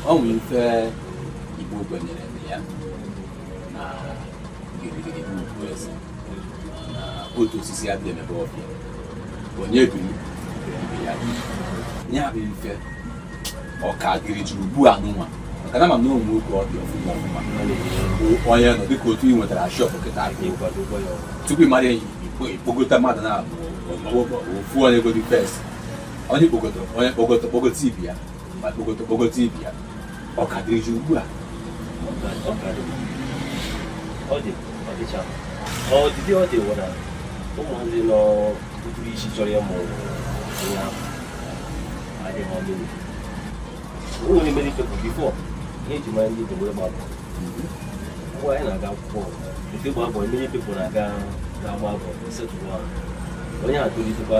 ọ nwere ife Igbo kwenyere na ya na gidigidi bụ ugwu eze na otu osisi adịghị emebe ọfịa onye biri ibe ya biri. ya bụ ife ọ ka dịrị jiri ugbu a nụnwa maka na m ma na o nwe oge ọ dị ọfụma ọfụma bụ onye nọ dịka otu ị nwetara shop kịta aka tupu ị mara ya ikpo- ikpokọta mmadụ na-abụ ofu onye godi first onye kpokọta onye kpokọta kpokọta ibe ya ma kpokọta kpokọta ibe ya ọ ka dịrị ji ugbu a ọ dị ọ dịcha ọ dịdị ọ dị wụra ụmụazị nọ ụtụrụ isi chọrọ ya ma onye ahụ adịghị ọdụ o nwere many people before ihe e ji mara ndị Igbo wụ ịgba boy mgbe anyị na-aga akwụkwọ efe gba boy many people na-aga na-agba boy settle ahụ onye a tolitekwa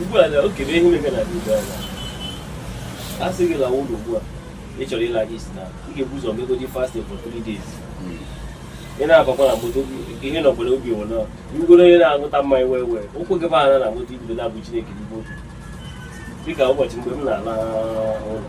ugbu a na okay ihe mega na ugbu a a sị gị lawa ụlọ ugbu a ị chọrọ ịla East na ị ga-ebu ụzọ megodi fasting for three days ị na-abakwa na moto ihe na obodo ọ bụrụ na ị bụrụ onye na-aṅụta mmanya wee wee ụkwụ gị ba na moto i bido na-abụ Chineke n'igbo otu dịka ụbọchị mgbe m na-ala ụlọ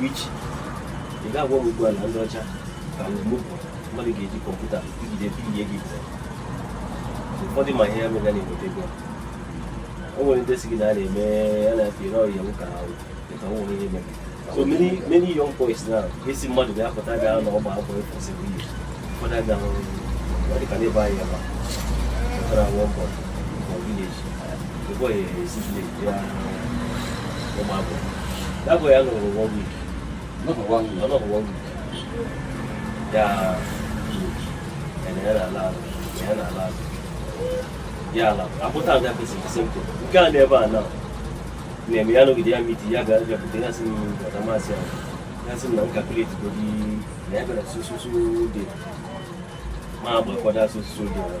Which ị ga-agwa m ugbu a na ndị ọcha ka mgbe m pụrụ mmadụ ga-eji kọmputa ijide pinye gị pụọ ụfọdụ ma ihe mere na-enweta ego o nwere ndị si gị na a na-eme a na-efe ire ọrịa nwoke ahụ ka o nwere ihe mere so many many young boys now a sị mmadụ bịa pụta bịa na ọ gba boy for seven years ụfọdụ abịa hụrụ dịka n'ebe anyị ebe a pụtara nwa boy ya ala akpụta ada kwesịrị simple nke a n'ebe a na na-eme ya nọgide ya meet ya bịa bịakwute ya sị m ọta masị ya ya sị m na m calculate godi na ya bịara so so so date ma agbakwado so so date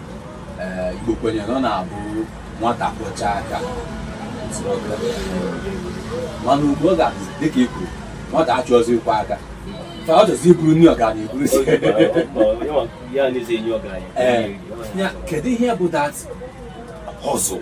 Igbo kwenyere na ọ na-abụ nwata kwọcha aka mana ugbu ọ ga-abụ dịka i kwuru nwata achọzi ịkwọ aka ka ọ chọzi iburu nri ọgaranya iburu si kedu ihe bụ that hustle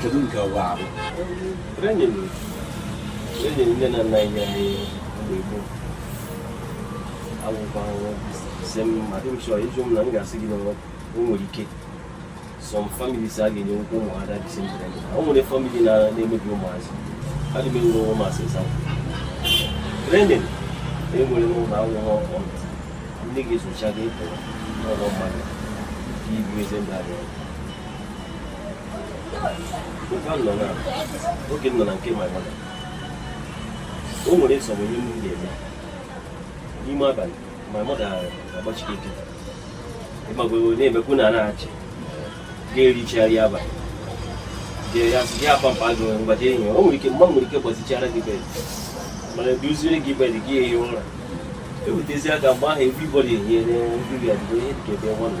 kedu nke ọ ga-abụ enyere nne na nna anyị anyị mgbe gboo agwụgwa si m ma dị m chọọ ịjụ m na m ga-asị gị na o nwere ike some families a ga-enye nwoke ụmụ ada dị sendere o nwere family na-emebi ụmụazị adị m enwe ụmụazị ịsa training enwere n'ụlọ akwụkwọ ọkụ ndị ga-esocha gị pụrụ n'ụlọ mmadụ ka ibu eze ndị abịa oge m nọ na nke my mother o nwere some ihe m ga-eme n'ime abalị my mother agbachi gị nkịtị ịmago na-emekwu na na-achị ga-ericha nri abalị jee ya sị gị akwa mpa gị mgbaji enyi o nwere ike mma nwere ike gbazichara gị bed mana duziere gị bed gị ehi ụra ewetezi aka mgbe ahụ everybody ehiere nri ya dịgo ihe dịka ebe nwa na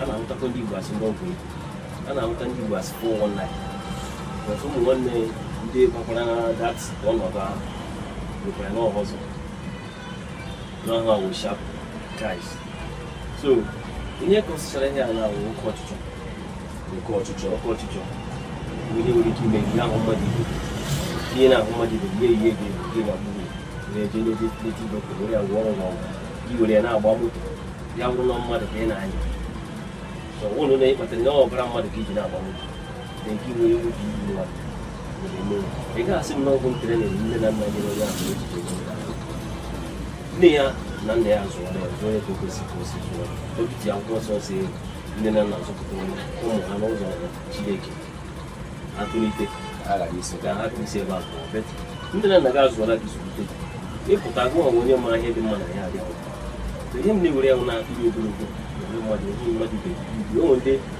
a na-ahụtakwa ndị Igbo as ndị ọgwụ ego a na-ahụta ndị Igbo as 419 ọtụ ụmụ nwanne ndị gbakwara that ọnọdụ ahụ nwekwara n'ọhọzọ na ha wụ sharp guys so ihe kọsịchara ihe a na-awụ oke ọchịchọ oke ọchịchọ oke ọchịchọ bụ ihe nwere ike ime ihe ahụ mmadụ ibe gị ị na-ahụ mmadụ ibe gị ihe ga gị na mmiri na-eje n'ebe native dọkịta were ya gwọrọ ọgwụ i were ya na-agba moto ya bụrụ na mmadụ ka ị na-anya so ụlọ na-ekpata na ọbara mmadụ ka i ji na-agba moto nne ya na nna ya zụrụ ya zụọ ya ka o kwesịrị ka o si zụọ obi ji akwụkwọ nsọ sị nne na nna zụpụta ụmụ ha n'ụzọ Chineke ha tolite ka ha isi ebe a pụọ nne na nna gị azụọla gị zụlite ịpụta gụ ọnwe onye mara ihe dị mma na ihe adịghị ihe m na-ewere ya na-atụghị ogologo mmadụ ihe mmadụ ga-ebi onwe ndị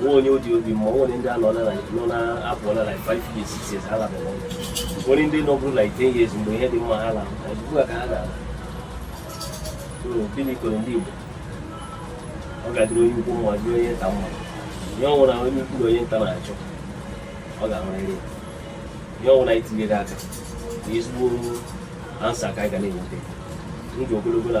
nwe onye ọ dị obi mma o nwere ndị anọ nọ na-apụọla like five years six years ha alaba o nwere ndị nọ bụrụ like ten years mgbe ihe dị mma ha ala ugbu a ka ha na-ala gịnị kọrọ ndị Igbo ọ ga-adịrị onye ukwu mma dịrị onye nta mma ihe ọwụna onye ukwu na onye nta na-achọ ọ ga-ahụrịrị ihe ọwụna i tinyere aka na ezigbo answer ka anyị ga na-enweta ndụ ogologo na